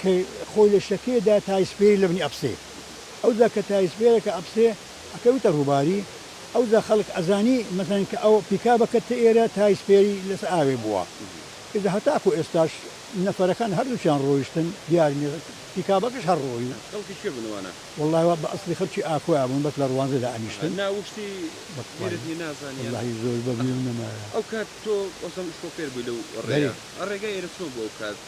کە خۆی لە شەکێ دا تایسپێری لەبنی ئەبسێ ئەو جا کە تایسپێرەکە ئەبسێ ئەکەویتە ڕووباری ئەو جا خەڵک ئەزانی مەسەلەن کە ئەو پیکابە کەتتە ئێرە تایسپێری لەسە ئاوێ بووە ئیجا هەتاکوو ئێستاش نەفەرەکان هەردووکیان ڕۆیشتن دیار نیە پیکابەکەش هەر ڕۆی و خەڵکی کوێ بوون ئەوانە؟ وەڵڵاهی وا بە ئەسڵی خەڵکی ئاکۆیا بوون بەس لە ڕوانزێ دا ئەنیشتن نا وشتی بە بیرت نیە نازانیان وەڵڵاهی زۆر بە ئەها بیرم نەمایە. ئەو کات تۆ وەسم شۆفێر بووی لەو ڕێیە بەرێ. ئە ڕێگای ئێرە چۆن بوو ئەو کات؟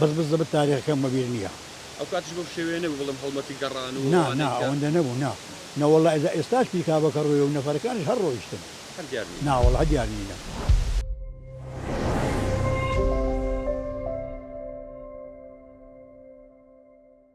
بەس بس دەبت تاریخەکەم بەبیر نیە. ئەو کاتیش بەو شێوەیە نەبوو بڵێم هەڵمەتی گەڕان و نا نا ئەوانەی کە. ئەوەندە نەبوو نا نا وەڵا ئێزا ئێستاش پیکابەکە ڕۆیە و نەفەرەکانیش هەر ڕۆیشتن هەر دیار نین. نا وەڵا دیار نینە.